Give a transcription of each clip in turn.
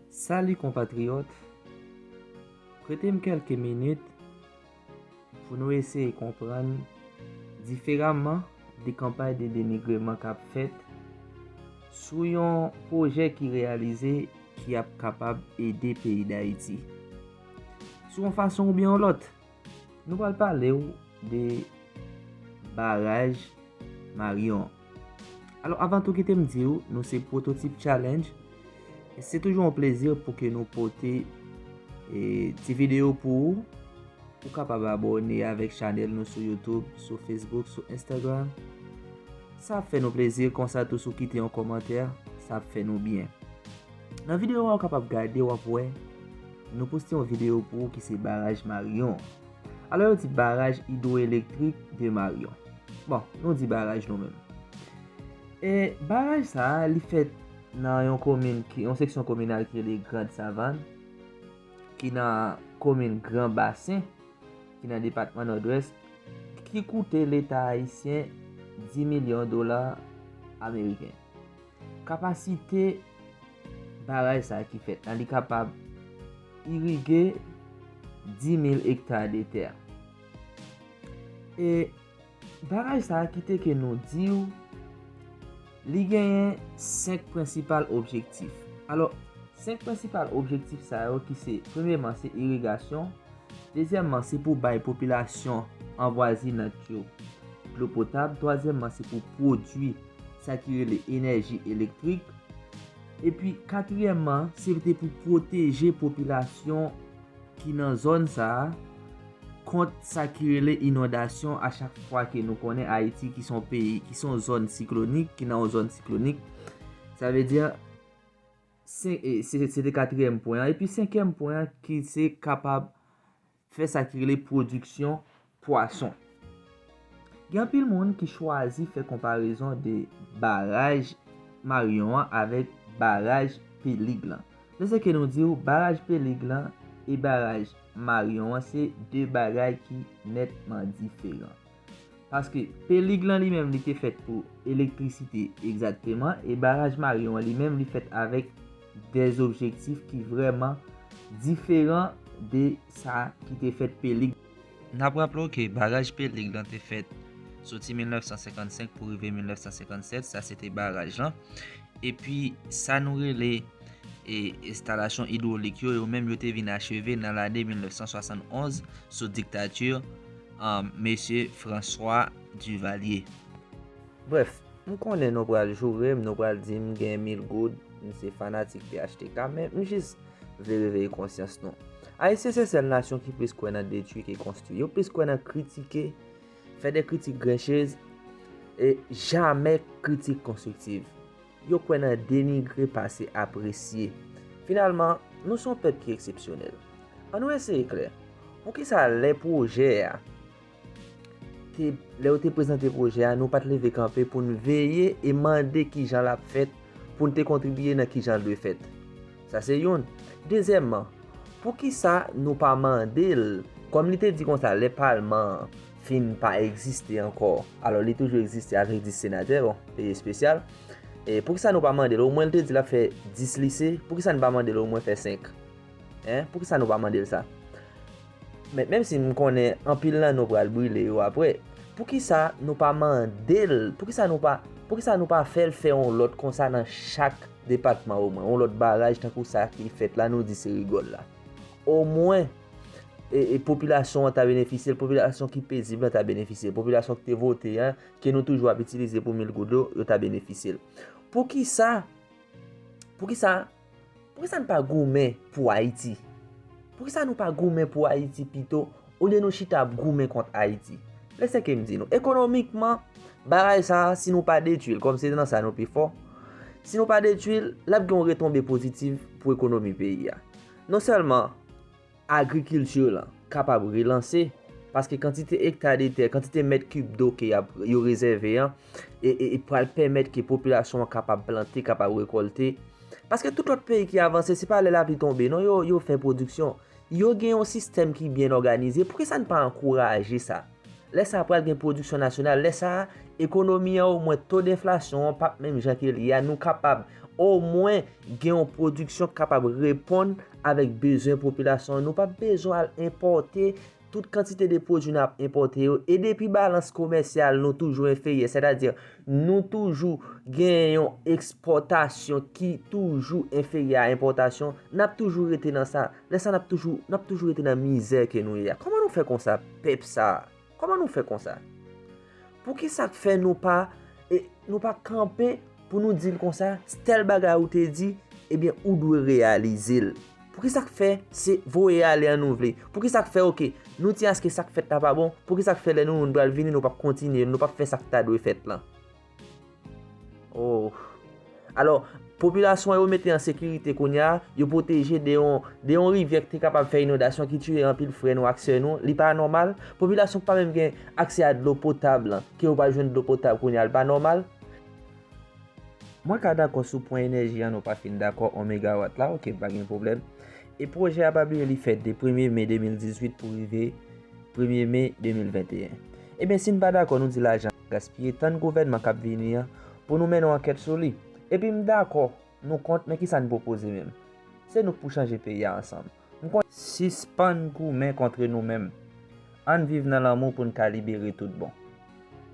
Salut konpatriyòt, prete m kelke minit pou nou eseye konprann diferaman de kanpay de denigreman k ap fèt sou yon pwojè ki reyalize ki ap kapab ede peyi Dayiti sou yon fason oubyen yon lòt. Nou pral pale ou de baraj Marion. Alò avan tou kite m di ou nou se Prototip Challenge. Se toujou an plezi pou ke nou pote ti video pou ou. Ou kapab abone avèk chanèl nou sou Youtube, sou Facebook, sou Instagram. Sa ap fè nou plezi konsa tou sou kite yon komantè, sa ap fè nou byen. Nan video a ou kapab gade wap wè nou poste yon video pou ou ki se baraj Marion. Alò yo di baraj hydroelektrik de Marion. Bon, nou di baraj nou menm. E baraj sa a li fèt nan yon komin ki yon seksyon kominal ki rele Grand Savanne ki nan komin Grand Bassin ki nan depatman Nòdwès ki koute leta ayisyen 10 milyon dola ameriken. Kapasite baraj sa ki fèt la, li kapab irige 10.000 ekta de tè. E baraj sa ki te ke nou di ou, li genyen 5 prensipal objektif. Alo, 5 prensipal objektif sa yo ki se, premyeman se irigasyon, dezyèmman se pou bay popilasyon anvwazinant yo dlo potab, twazyèmman se pou pwodwi dlo. sa ki rele enèji elektrik, epi katriyèmman se te pou pwoteje popilasyon ki nan zòn sa a kont sa ki rele inondasyon a chak fwa ke nou konnen Ayiti ki son peyi, ki son zòn siklonik, ki nan yon zòn siklonik. Sa vle di, se te katriyèm pwen an, epi senkyèm pwen an ki se kapab fè sa ki rele pwodiksyon pwason. Gen anpil moun ki chwazi fè konparezon de baraj Maryon an avèk baraj Pelig lan. Lè se ke nou di ou baraj Pelig lan e baraj Maryon an se 2 bagay ki nètman diferan. Paske pelig lan li menm li te fèt pou elektrisite egzakteman e baraj Marion an li menm li fèt avèk de objektif ki vrèman diferan de sa ki te fèt pelig. N ap raple w ke baraj pelig lan te fèt soti 1955 pou rive 1957, sa se te baraj lan, epi sa nou rele e enstalasyon idwolik yo, yo menm yo te vin acheve nan lane 1971 sou diktati Mesye Francois Duvalier. Brèf, m konnen nou pral joure m, nou pral di m gen mil goud, m se fanatik phtk, men m jis vle reveye konsyans nou. Ayisyen se sèl nasyon ki plis kwè nan detwi ke konstwi. Yo plis kwè nan kritike, fè de kritik grenchez, e jamè kritik konstriktiv. Yo kwè nan denigre pase apresye. Finalman, nou se yon pèp ki eksepsyonèl. An nou eseye klè, poukisa lè pwojè a te, lè yo te prezante pwojè a, nou pa t leve kanpe pou n veye e mande ki jan l ap fèt pou n te kontribiye nan ki jan l dwe fèt? Sa se youn. Dezyèmman, poukisa nou pa mande l, kòm li te di konsa lè palman an, fin pa egziste ankò, alò li toujou egziste avèk 10 senatè, bon, peyi espesyal, e pou ki sa nou pa mande l, o mwen l te di l ap fè 10 lise, pou ki sa nou pa mande l o mwen fè 5? Hein, pou ki sa nou pa mande l sa? Men, menm si m konnen anpil nan nou pral brile yo apre, pou ki sa nou pa mande l, pou ki sa nou pa, pou ki sa nou pa fè l fè on lòt konsa nan chak depatman o mwen, on lòt baraj tankou sa ki fèt la nou di se rigòl la? O mwen! popilasyon an ta benefisye l, popilasyon ki pezib lan ta benefisye l, popilasyon ki te vote an, ke nou toujou ap itilize pou mil goud yo, yo ta benefisye l. Pou ki sa, pou ki sa, pou ki sa nou pa goumen pou Ayiti? Pou ki sa nou pa goumen pou Ayiti pito, ou lye nou chita ap goumen kont Ayiti? Lè se ke m di nou, ekonomikman, bagay sa, si nou pa detui l, kòm se nan sa nou pi fò, si nou pa detui l, l ap gen yon retonbe pozitiv pou ekonomi peyi a. Non sèlman agrikilti lan kapab relanse, paske kantite ekta de tè, kantite mèt kib do ke yo rezève an, e pral pèmèt ke popilasyon an kapab plante, kapab rekolte. Paske tout lòt peyi ki avanse, se pa lè lapli tonbe non yo fè pwodiksyon. Yo gen yon sistèm ki byen òganize, poukisa n pa ankouraje sa? Lè sa pral gen pwodiksyon nasyonal, lè sa a ekonomi an omwen to denflasyon an pap menm jan ke l ye a, nou kapab omwen gen yon pwodiksyon k kapab reponn avèk bezwen popilasyon an, nou pap bezwen al enpòte tout kantite de pwodui n ap enpòte yo, e depi balans komèsyal nou toujou enferyè, sètadi nou toujou gen yon ekspòtasyon ki toujou enferyè a enpòtasyon, n ap toujou rete nan sa. lè sa nap toujou nap toujou rete nan mizè ke nou ye a kòman nou fè konsa pèp sa kòman nou fè konsa pou ki sak fè nou pa e nou pa kanpe pou nou dil konsa stèl bagay ou te di ebyen ou dwe reyalize l pou ki sak fè se voye ale an nou vle pou ki sak fè ok nou ti aske sak fèt la pa bon pou ki sak fè lè nou moun bal vini nou pap kontinye nou pap fè sak ta dwe fèt lan. Oh. Alò, popilasyon yo mete an sekirite kounye a, yo pwoteje de yon, de yon rivyè ki te kapab fè inondasyon ki tiye anpil frè nou ak sè nou, li pa nòmal? Popilasyon ki pa menm gen aksè a dlo potab lan, ke yo pa jwenn dlo potab kounye a, li pa nòmal? Mwen ka dakò sou pwen enèji an nou pa fin dakò, 1 megawat la, ok, pa gen pwoblèm. E pwojè a pa bliye li fèt de premye me 2018 pou rive premye me 2021. Ebyen si n pa dakò nou di lajan. gaspiye tan gouvènman kap vini an pou nou mennen ankèt sou li. Epi m dakò nou kont men kisa n pwopoze menm? Se nou k pou chanje peyi a ansanm. M konn. Sispann goumen kontre nou menm. Ann viv nan lanmou pou n ka libere tout bon.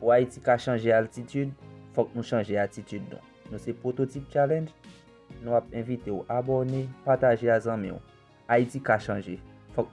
Pou Ayiti ka chanje altitid, fòk nou chanje atitid nou. Nou se Pwototip Challenge, nou ap envite w abòne, pataje a zanmi w. Ayiti ka chanje. Fòk nou.